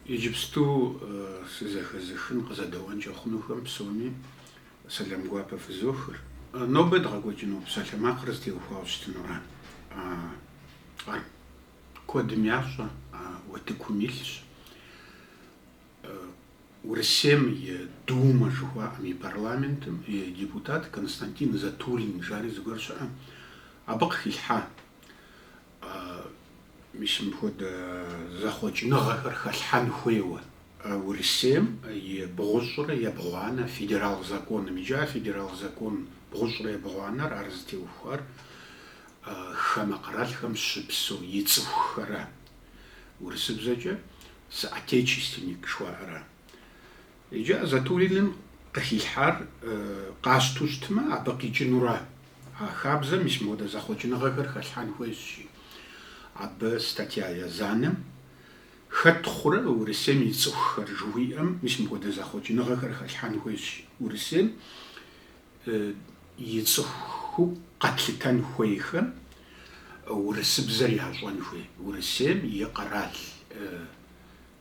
Иджыпсту сызэхэзыхын къызэдэуэнкӏэ хъунухэм псоми сэлам гуапэ фызохыр. Нобэ дгъэкӏуэкӏыну псалъэмакъыр зытеухуауэ щытынура. Ар куэдым ящӏэ, утыкум илъщ. Урысейм и Думэ жыхуаӏэм и парламентым и депутат Константин Затулин жари зыгуэр щыӏэ, абы къыхилъхьа. Мис мыпхуэдэ зэхъуэкӏыныгъэхэр хэлъхьэн хуейуэ. Урысейм и бгъущӏрэ ебгъуанэ федерал законым иджы а федерал закон бгъущӏрэ ебгъуанэр ар зытеухуар хамэ къэралхэм щыпсэу и цӏыхухэра, урысыбзэкӏэ соотечественник жыхуаӏэра. Иджы а Затулиным къыхилъхьар къащту щытмэ, абы къикӏынура. А хабзэм мис мыпхуэдэ зэхъуэкӏыныгъэхэр хэлъхьэн хуейщ жи, абы статья язанэм Хэт хъурэ Урысейм и цӏыхухэр? жыхуиӏэм мис мыпхуэдэ зэхъуэкӏыныгъэхэр хэлъхьэн хуейщ жи, Урысейм и цӏыхуу къэтлъытэн хуейхэм урысыбзэр ящӏэн хуей, Урысейм и къэрал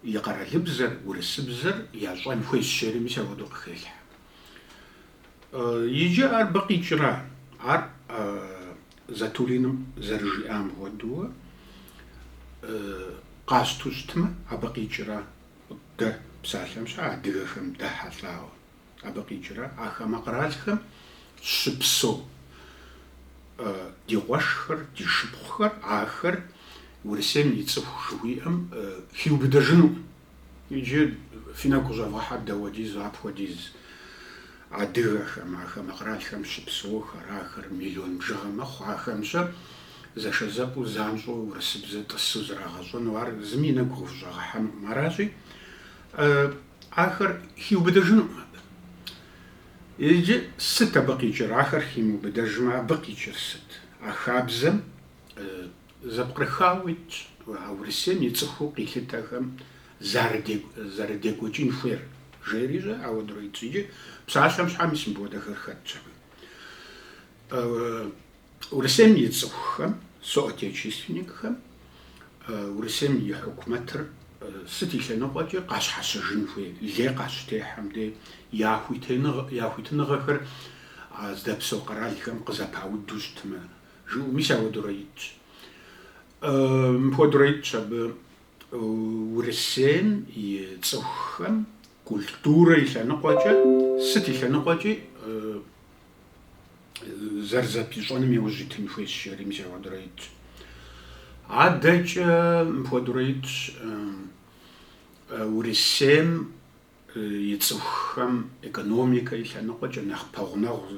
И къэралыбзэр, урысыбзэр ящӏэн хуейщ жери мис апхуэдэу къыхелъхьэ. Иджы ар абы къикӏра. Ар Затулиным зэрыжиӏам хуэдэуэ къащту щытмэ, абы къикӏра. Дэ псалъэм щхьэ адыгэхэм дэхьэлӏауэ. Абы къикӏра а хамэ къэралхэм щыпсэу ди къуэшхэр, ди шыпхъухэр, ахэр Урысейм и цӏыху жыхуиӏэм хиубыдэжынукъым. Иджы фи нэгу къыщӏэвгъэхьэ дауэдиз апхуэдиз адыгэхэм, а хамэ къэралхэм щыпсэухэр, ахэр миллион бжыгъэ мэхъу, ахэм-щэ зэшэзэпӏэу, занщӏэу урысыбзэ тӏысу зрагъэщӏэну ар зыми и нэгу къыхущӏэгъэхьэнукъым. Аращи, Ахэр хиубыдэжынукъым абы. Иджы сыт абы къикӏыр? Ахэр химыубыдэжмэ, абы къикӏыр сыт? А хабзэм зэпкърыхауэ итщ а Урысейм и цӏыхуу къилъытэхэм зэрыдекӏуэкӏын хуейр, жери щӏэ, ауэдурэ итщ. Иджы псалъэм щхьэ мис мыпхуэдэхэр хэтщ абы. Урысейм и цӏыхухэм, соотечественникхэм Урысейм и хьукумэтыр сыт и лъэныкъуэкӏи къащхьэщыжын хуей лей къащытехьэм де я хуитыныгъэхэр а здэпсэу къэралхэм къызэпауду щытмэ жыӏэу, мис ауэдурэ итщ. Мыпхуэдурэ итщ абы Урысейм и цӏыхухэм культурэ и лъэныкъуэкӏэ, сыт и лъэныкъуэкӏи зэрызэпищӏэным и ужь итын хуейщ, жери мис ахуэдурэ итщ. Адэкӏэ мыпхуэдурэ итщ Урысейм и цӏыхухэм экономикэ и лъэныкъуэкӏэ нэхъ пэгъунэгъу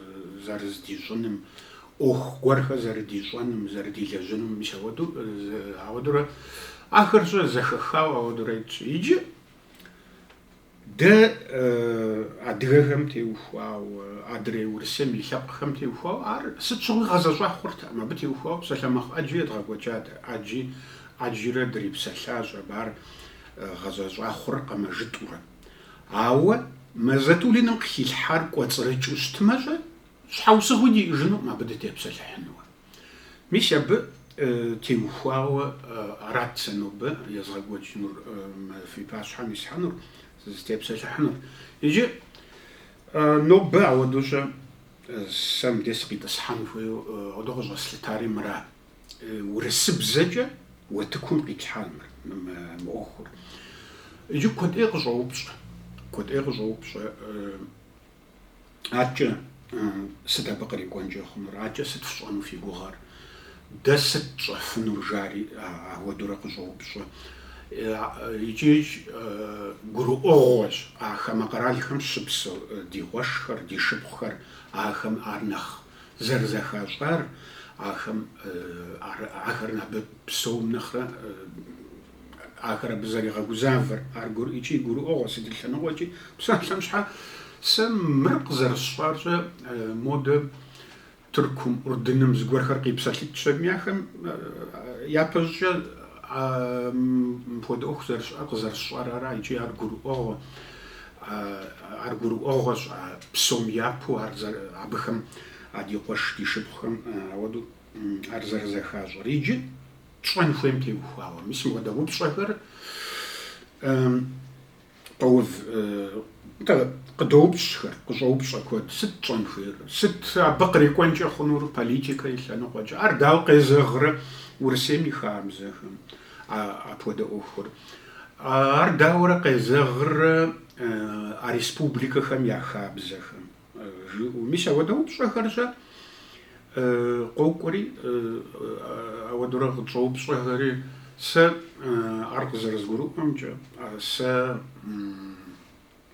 зэрыздищӏыным, ӏуэху гуэрхэр зэрыдищӏэным, зэрыдилэжьыным, мис ахуэду, ахуэдурэ ахэр щӏэ зэхэхауэ ахуэдурэ итщ. Иджы Дэ адыгэхэм теухуауэ, адрей Урысейм и лъэпкъхэм теухуауэ ар сыт щыгъуи гъэзэщӏа хъуртэкъым. Абы теухуауэ псалъэмакъ ӏэджи едгъэкӏуэкӏат, ӏэджи ӏэджырэ дрипсэлъащ, абы ар гъэзэщӏа хъуркъым жытӏурэ. Ауэ мы Затулиным къыхилъхьар кӏуэцӏрыкӏыу щытмэ щӏэ, щхьэусыгъуи диӏэжынукъым абы дытепсэлъыхьынуэ. Мис абы теухуауэ арат сэ нобэ езгъэкӏуэкӏынур, фи пащхьэм исхьэнур, сызытепсэлъыхьынур. Иджы нобэ ауэдэу-щэ сэ мыдей сыкъитӏысхьэн хуейуэ, ауэдэ къыщӏэслъытари мыра, урысыбзэкӏэ уэтыкум къитлъхьар мыр, мы ӏуэхур. Иджы куэд ӏей къыщӏоупщӏэ, куэд ӏей къыщӏоупщӏэ. Адэкӏэ сыт абы кърикӏуэнкӏэ хъунур? Адэкӏэ сыт фщӏэну фи гугъэр? Дэ сыт тщӏэфынур? жари ауэдурэ къыщӏоупщӏэ. Икӏи гурыӏуэгъуэщ а хамэ къэралхэм щыпсэу ди къуэшхэр, ди шыпхъухэр, ахэм ар нэхъ зэрызэхащӏар, ахэм ахэр абы псом нэхърэ Ахэр абы зэригъэгузавэр, ар гуры, икӏи гурыӏуэгъуэ, сыт и лъэныкъуэкӏи, псалъэм щхьэ. Сэ мыр къызэрысщӏар щӏэ, модэ Тыркум, Урдыным зыгуэрхэр къипсэлъыкӏщ аби, ахэм япэ щӏыкӏэ а мыпхуэдэ ӏуэху зэрыщыӏэр, къызэрысщӏар ара икӏи ар гурыӏуэгъуэ, ар гурыӏуэгъуэщ а псом япэу, а, абыхэм а ди къуэш, ди шыпхъухэм ауэдэу ар зэрызэхащӏэр. Иджы. тщӏэн хуейм теухуауэ. Мис мыхуэдэ упщӏэхэр къоув, къыдоупщӏхэр, къыщӏоупщӏэ куэд, сыт тщӏэн хуейр, сыт абы кърикӏуэнкӏэ хъунур политикэ и лъэныкъуэкӏэ, ар дауэ къезэгърэ Урысейм и хабзэхэм апхуэдэ ӏуэхур, ар дауэрэ къезэгърэ а республикэхэм я хабзэхэм. жыӏэу. Мис ауэдэ упщӏэхэр-щэ къокӏуэри, ауэдурэ къытщӏоупщӏэхэри, сэ ар къызэрызгурыӏуэмкӏэ, сэ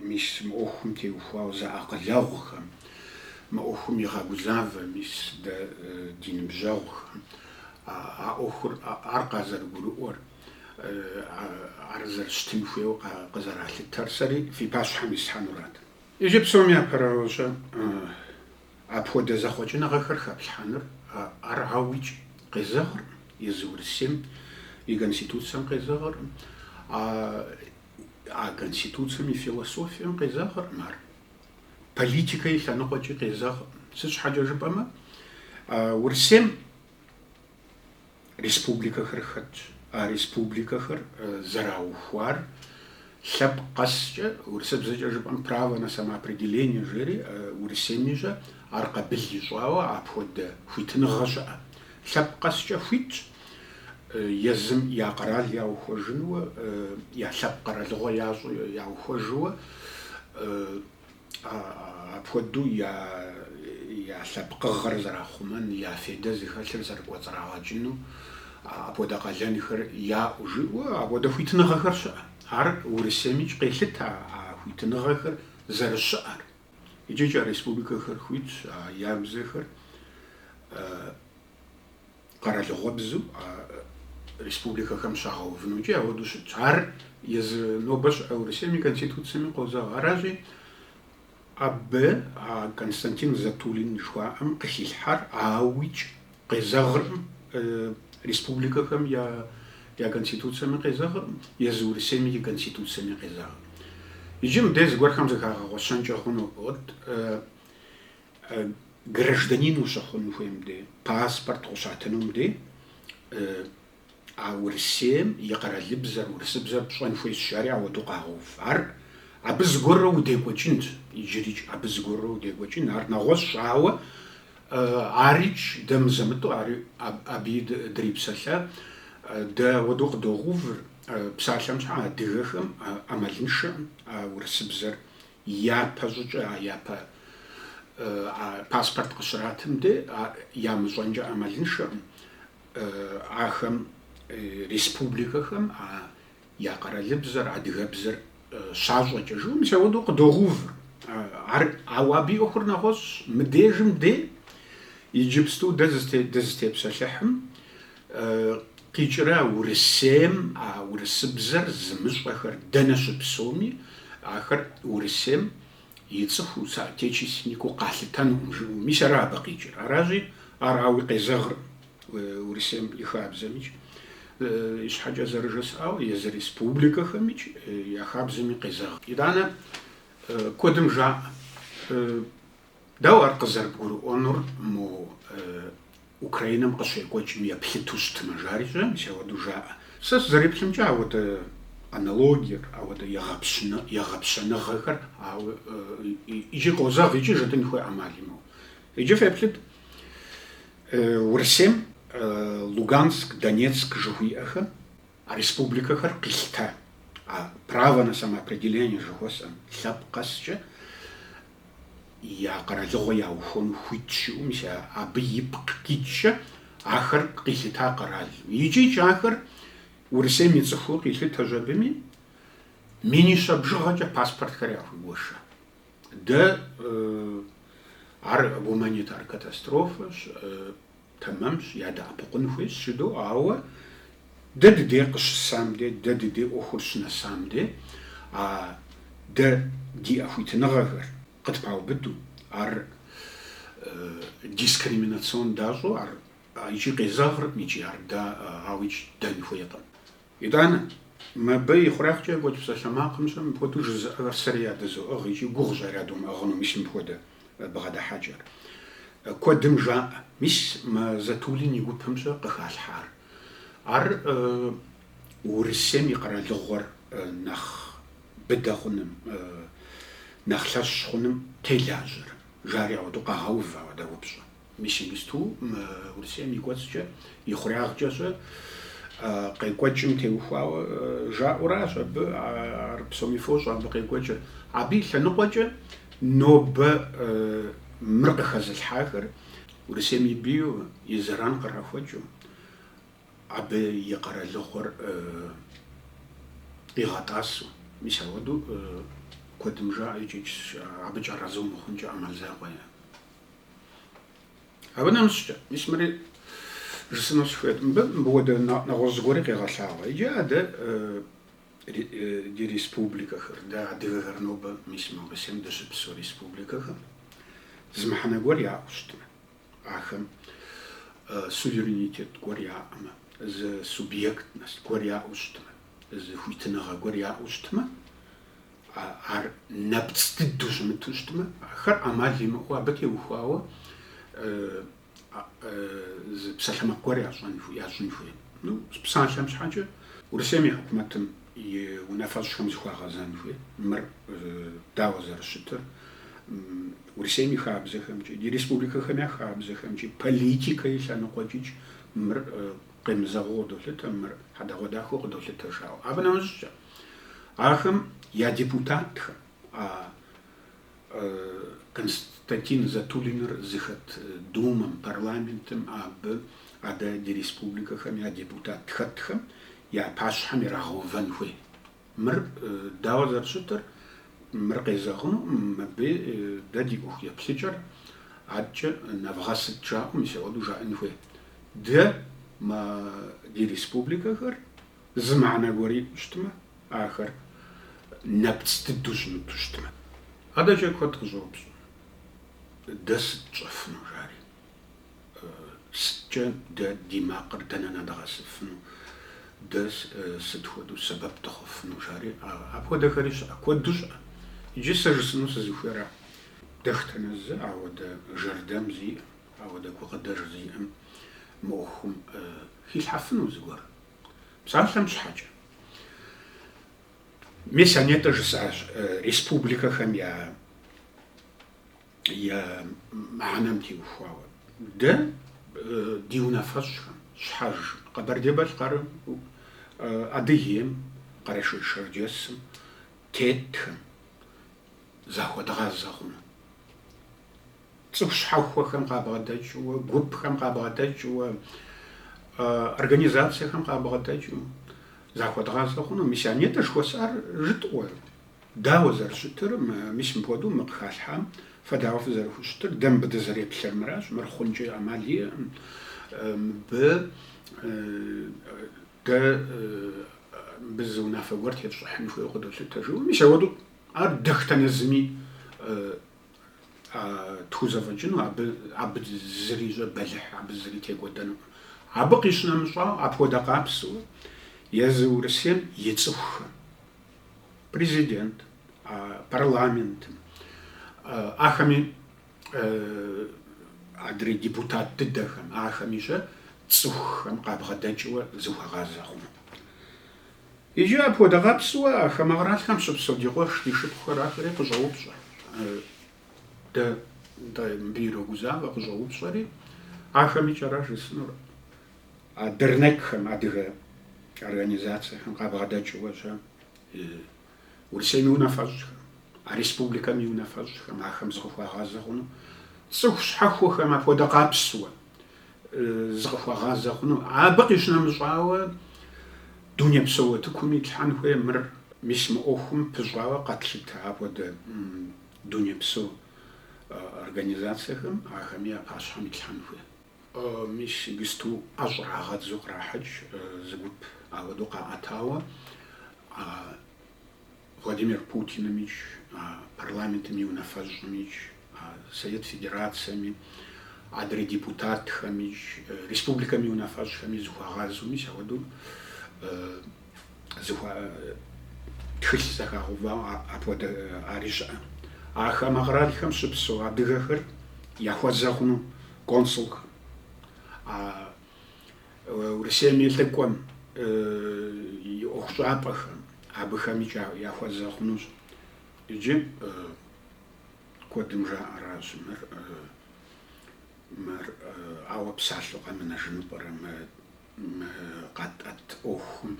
мис мы ӏуэхум теухуауэ зэакъылэгъухэм, мы ӏуэхум игъэгузавэ мис дэ ди ныбжьэгъухэм а ӏуэхур, ар къазэрыгурыӏуэр, ар зэрыщытын хуейуэ къызэралъытэр сэри фи пащхьэм исхьэнурат. Иджы псом япэрауэ щэ, апхуэдэ зэхъуэкӏыныгъэхэр хэплъхьэныр ар ауикӏ къезэгъыркъым езы Урысейм и Конституцэм къезэгъыркъым, а Конституцэм и философием къезэгъыркъым ар, политикэ и лъэныкъуэкӏи къезэгъыркъым. Сыт щхьэкӏэ жыпӏэмэ, Урысейм Республикэхэр хэтщ. А республикэхэр зэраухуар лъэпкъ къэскӏэ, урысыбзэкӏэ жыпӏэм право на самоопределение жери, Урысейми щэ, ар къабыл ищӏауэ апхуэдэ хуитыныгъэ щыӏэ. Лъэпкъ къэскӏэ хуитщ езым я къэрал яухуэжынуэ, я лъэпкъ къэралыгъуэ ящӏу яухуэжыуэ, Апхуэдэу я лъэпкъыгъэр зэрахъумэн, я федэ зыхэлъыр зэрыкӏуэцӏрагъэкӏыну апхуэдэ къалэнхэр яӏу, жиӏэу апхуэдэ хуитыныгъэхэр щыӏэ. Ар Урысеймикӏ къелъытэ а хуитыныгъэхэр зэрыщыӏэр. Икӏикӏ а республикэхэр хуитщ я бзэхэр къэралыгъуэбзу а республикэхэм щагъэувынукӏи ауэдэу щытщ. Ар езы нобэ щыӏэ Урысейм и Конституциями къозэгъ. Аращи, абы а Константин Затулин жыхуаӏэм къыхилъхьар ауикӏ къезэгъыркъым, республикэхэм я Конституциями къезэгъыркъым, езы Урысейми и Конституциями къезэгъыркъым. Иджы мыде зыгуэрхэм зыхагъэгъуэщэнкӏэ хъунут. гражданин ущыхъун хуейм де, паспорт къыщатынум де, а Урысейм и къэралыбзэр, урысыбзэр пщӏэн хуейщ, жари ауэдэу къагъэув. Ар абы зыгуэрурэ удекӏуэкӏынт, иджырикӏ абы зыгуэрурэ удекӏуэкӏын, ар нэгъуэщӏщ, ауэ арикӏ, дэ мызэ-мытӏу ар абыи дрипсэлъэ, дэ ауэдэу къыдогъэувыр, псалъэм щхьа, адыгэхэм ӏэмалыншэкъым а урысыбзэр Япэ щӏыкӏэ, а япэ паспорт къыщратым де, ямыщӏэнкӏэ ӏэмалыншэкъым ахэм республикэхэм а я къэралыбзэр, адыгэбзэр щащӏэкӏэ жыӏэу, мис ауэдэу къыдогъэувыр. Ар, ауэ абы и ӏуэхур нэгъуэщӏщ. Мыдежым де, иджыпсту дэ дызытепсэлъыхьым, Къикӏрэ Урысейм а урысыбзэр зымыщӏэхэр дэнэ щыпсэуми, ахэр Урысейм и цӏыхуу, соотечественникыу къалъытэнукъым жыӏэу. Мис ара абы къикӏыр. Аращи, ар ауи къезэгъркъым Урысейм и хабзэмикӏ. Ищхьэкӏэ зэрыжысӏауэ, езы республикэхэмикӏ я хабзэми къезэгъркъым. Итӏанэ куэдым жаӏэ Дауэ ар къызэрыбгурыӏуэнур мо Украинэм къыщекӏуэкӏым еплъыту щытмэ, жари щэ, мис ауэдэу жаӏэ. Сэ сызэреплъымкӏэ ауэдэ аналогиер, ауэдэ егъэпщэныгъэхэр икӏи къозэгъ, икӏи жытӏэн хуей ӏэмал имыӏэу. Иджы феплъыт, Урысейм Луганск, Донецк жыхуиӏэхэм А республикэхэр къилъыта а право на самоопределение жыхуэсӏэм лъэпкъ къэскӏэ я къэралыгъуэ яухуэну хуит щыӏэу, мис абы ипкъ иткӏэ ахэр къилъыта къэралу. Икӏикӏ ахэр Урысейм и цӏыхуу къилъытэщ абыми, минищэ бжыгъэкӏэ паспортхэр яхуигуэша. Да, ар гуманитар катастрофэщ. Тэмэмщ, ядэӏэпыкъун хуейщ жыдоӏэ, ауэ дэ дыдейр къыщысам де, дэ дыдей ӏуэхур щынэсам де, а дэ ди ӏэхуитыныгъэхэр къытпаубыду, ар дискриминацион дащӏэу, ар икӏи къезэгъыркъым икӏи ар дэ ауикӏ ддэн хуейкъым. Итӏанэ, мыбы и хъуреягъкӏэ екӏуэкӏ псалъэмакъым щэ мыпхуэдэу жызыӏэхэр сэри ядызоӏыгъ икӏи гугъущ ар ядумыӏыгъыну, мис мыпхуэдэ бгъэдыхьэкӏэр куэдым жаӏэ. Мис мы Затулин и гупым щэ къыхалъхьар, ар Урысейм и къэралыгъуэр нэхъ быдэ хъуным, нэхъ лъэщ хъуным телажьэрэ, жари ауэдэу къагъэув ауэдэ упщӏэ. Мис иджысту мы Урысейм и кӏуэцӏкӏэ, и хъуреягъкӏэ щэ къекӏуэкӏым теухуауэ жаӏэуращ абы, ар псоми фощӏэ абы къекӏуэкӏыр. Абы и лъэныкъуэкӏэ нобэ мыр къыхэзылъхьахэр Урысейм и бийуэ, и зэран кърахуэкӏыу, абы и къэралыгъуэр къигъэтӏасэу. Мис ауэдэу куэдым жаӏэ икӏи абыкӏэ арэзы умыхъункӏэ ӏэмал закъуэ е. Абы нэмыщӏкӏэ, мис мыри жысӏэну сыхуейт, мыбы мыпхуэдэ нэгъуэщӏ зыгуэри къегъэлъагъуэ. Иджы а дэ ди республикэхэр, дэ адыгэхэр нобэ мис мы Урысейм дыщыпсэу республикэхэм зы мыхьэнэ гуэр яӏэу щытмэ, ахэм суверенитет гуэр яӏэмэ, зы субъектность гуэр яӏэу щытмэ, зы хуитыныгъэ гуэр яӏэу щытмэ, Ар нэпцӏ дыдэу щымыту щытмэ, ахэр ӏэмал имыӏэу абы теухуауэ зы псалъэмакъ гуэр ящӏын хуей. Ну, псалъэм щхьэкӏэ Урысейм и хьукумэтым и унафэщӏхэм зыхуагъэзэн хуей. Мыр дауэ зэрыщытыр Урысейм и хабзэхэмкӏи, ди республикэхэм я хабзэхэмкӏи, политикэ и лъэныкъуэкӏикӏ мыр къемызэгъыу къыдолъытэ, мыр хьэдэгъуэдахэу къыдолъытэ жаӏэу. Абы нэмыщӏкӏэ, Ахэм я депутатхэм, а Константин Затулиныр зыхэт Думэм, парламентым, абы адэ ди республикэхэм я депутат хэтхэм я пащхьэм ирагъэувэн хуей. Мыр дауэ зэрыщытыр, мыр къезэгъыну мыбы дэ ди ӏуэху еплъыкӏэр адэкӏэ нэвгъэсыт жаӏэу мис ауэдэу жаӏэн хуей. Дэ мы ди республикэхэр Зы мыхьэнэ гуэр иту щытмэ, ахэр нэпцӏ дыдэу щымыту щытмэ. Адэкӏэ куэд къыщӏоупщӏэ, Дэ сыт тщӏэфыну, жари? Сыткӏэ дэ ди макъыр дэнэ нэдгъэсыфыну? Дэ сыт хуэдэу сэбэп дыхъуфыну, жари? Апхуэдэхэри щыӏэ, куэду щыӏэ. Иджы сэ жысӏэну сызыхуейра? Дэхтэнэ зы ауэдэ жэрдэм зиӏэм, ауэдэ гукъыдэж зиӏэм мы ӏуэхум хилъхьэфыну зыгуэр Псалъэм щхьэкӏэ, мис а нетӏэ жысӏащ республикэхэм я я мыхьэнэм теухуауэ. Дэ ди унафэщӏхэм, щхьэж Къэбэрдей-Балъкъэрым, Адыгейм, Къэрэшей-Шэрджэсым тетхэм захуэдгъазэ хъуну. цӏыху щхьэхуэхэм къабгъэдэкӏыу, гупхэм къабгъэдэкӏыу, организацэхэм къабгъэдэкӏыу захуэдгъазэ хъуну. Мис а нетӏэ жыхуэсӏар жытӏуэ, дауэ зэрыщытыр, мис мыпхуэдэу мы къыхалъхьам фэ дауэ фызэрыхущытыр, дэ мыбы дызэреплъыр мыращ, мыр хъункӏэ ӏэмал иӏэм, мыбы дэ мыбы зы унафэ гуэр тетщӏыхьын хуейуэ къыдолъытэ жыӏэу. Мис ауэдэу ар дэхтэнэ зыми. тхузэфӏэкӏыну, абы абы зыри щӏэбэлыхь, абы зыри текӏуэдэну. Абы къищынэмыщӏауэ, апхуэдэ къабзэуэ езы Урысейм и цӏыхухэм, президент, парламентым, ахэми адрей депутат дыдэхэм, ахэми щэ цӏыхухэм къабгъэдэкӏыуэ зыхуагъазэ хъуну. Иджы апхуэдэ къабзэуэ а хамэ къэралхэм щыпсэу ди къуэш, ди шыпхъухэр ахэри къыщӏэупщӏэ. Дэ мыбы ирогузавэ къыщӏэупщӏэри, ахэмикӏ аращ жысӏэнур. А дернекхэм, адыгэ организацэхэм къабгъэдэкӏыуэ щэ Урысейм и унафэщӏхэм, а республикэм и унафэщӏхэм ахэм зыкъыхуагъазэ хъуну цӏыху щхьэхуэхэм апхуэдэ къабзэуэ зыкъыхуагъазэ хъуну. Абы къищынэмыщӏауэ, дунейпсо утыкум итлъхьэн хуей мыр. Мис мы ӏуэхум пыщӏауэ къэтлъытэ апхуэдэ дунейпсо организацэхэм ахэми я пащхьэм итлъхьэн хуей. Мис иджыпсту ӏэ щӏрагъэдзу кърахьэкӏ зы гуп ауэдэу къаӏэтауэ а Владимир Путинымикӏ, а парламентым и унафэщӏымикӏ, а Совет Федерацэми, адрей депутатхэмикӏ, республикэм и унафэщӏхэми зыхуагъазэу мис ауэдэу зы, а, тхылъ зэхагъэувауэ апхуэдэ ари щыӏэ. А хамэ къралхэм щыпсэу адыгэхэр яхуэзэ хъуну консулхэм, а Урысейм и лӏыкӏуэм и ӏуэхущӏапӏэхэм абыхэми яхуэзэ хъунущ. Иджы куэдым жаӏэращ мыр, мыр ауэ псалъэу къэмынэжыну пӏэрэ мы Мы къэтӏэт ӏуэхум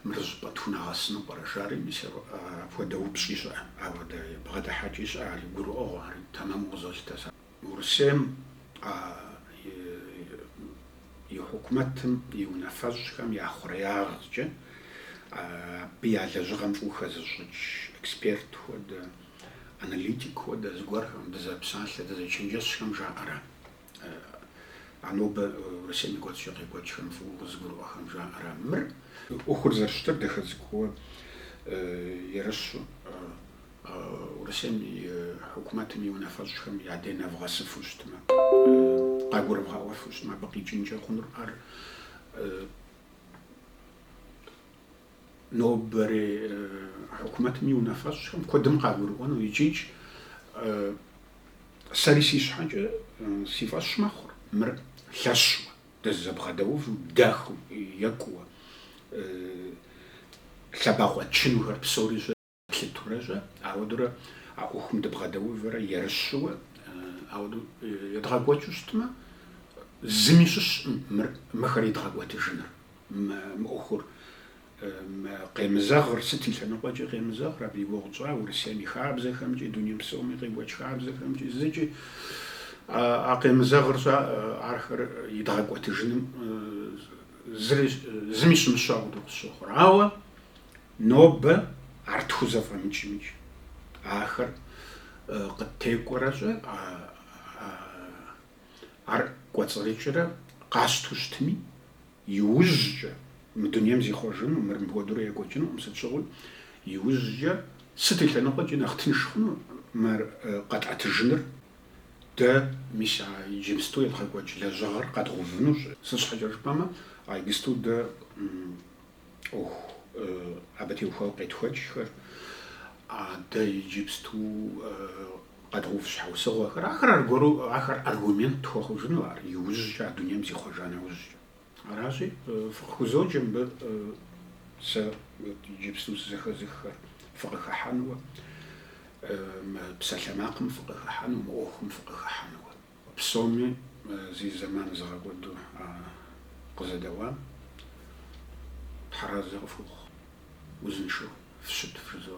мыр щӏыпӏэ тхунэгъэсыну пӏэрэ жари, мис, апхуэдэ упщӏи щыӏэ, ауэдэ бгъэдыхьэкӏи щыӏэ, ари гурыӏуэгъуэ, ари тэмэму къызолъытэ сэ. Урысейм и хьукумэтым и унафэщӏхэм я хъуреягъкӏэ абы я лэжьыгъэм фӏыуэ хэзыщӏыкӏ эксперт хуэдэ, аналитик хуэдэ зыгуэрхэм, дызэпсалъэ, дызэчэнджэщхэм жаӏэра А нобэ Урысейм и кӏуэцӏкӏэ къекӏуэкӏхэм фӏыуэ къызыгурыӏуэхэм жаӏэра: мыр ӏуэхур зэрыщытыр дахэ цӏыкӏууэ ерыщу, Урысейм и хьукумэтым и унафэщӏхэм я дей нэвгъэсыфу щытмэ, къагурывгъэӏуэфу щытмэ, абы къикӏынкӏэ хъунур ар Нобэрей хьукумэтым и унафэщӏхэм куэдым къагурыӏуэну икӏикӏ. Сэри си щхьэкӏэ си фӏэщ мэхъур мыр лъэщу, дызэбгъэдэуву, дахэу, екӏуу, лъэбакъуэ тчынухэр псори Плъытурэщӏэ, ауэдурэ а ӏуэхум дыбгъэдэувэрэ ерыщууэ, ауэду едгъэкӏуэкӏыу щытмэ, зыми щыщкъым мыр, мыхэр идгъэкӏуэтыжыныр, мы, мы ӏуэхур, мы къемызэгъыр, сыт и лъэныкъуэкӏи къемызэгъыр, абы и гугъу тщӏа Урысейм и хабзэхэмкӏи, дунейм псоми къекӏуэкӏ хабзэхэмкӏи зыкӏи, а къемызэгъыр щӏа, ахэр идгъэкӏуэтыжыным зыри, зыми щымыщу ауэду къысщохъур. Ауэ Нобэ ар тхузэфӏэмыкӏмикӏ ахэр къыттекӏуэрэщӏэ, ар кӏуэцӏрыкӏрэ къащту щытми, иужькӏэ, мы дунейм зихъуэжыну мыр мыпхуэдэурэ екӏуэкӏынукъым, сыт щыгъуи, иужькӏэ сыт и лъэныкъуэкӏи нэхъ тынш хъуну мыр къэтӏэтыжыныр, дэ мис а иджыпсту едгъэкӏуэкӏ лэжьыгъэр къэдгъувынущ, сыт щхьэкӏэ жыпӏэмэ, а иджыпсту дэ ӏуэху абы теухуауэ къетхуэкӏхэр, адэ иджыпсту къэдгъэув щхьэусыгъуэхэр, ахэр аргуэру ахэр аргумент тхуэхъужыну ар иужькӏэ а дунейм зихъуэжа нэужькӏэ. Аращи, фыкъыхузоджэ мыбы сэ иджыпсту сызэхэзыххэр фыкъыхыхьэнуэ, мы псалъэмакъым фыкъыхыхьэну, мы ӏуэхум фыкъыхыхьэнуэ. Псоми зи зэман зыгъэкӏуэду къызэдэӏуам Тхьэразэ къыфхухъу, узыншэу фыщыт, вжызоӏэ.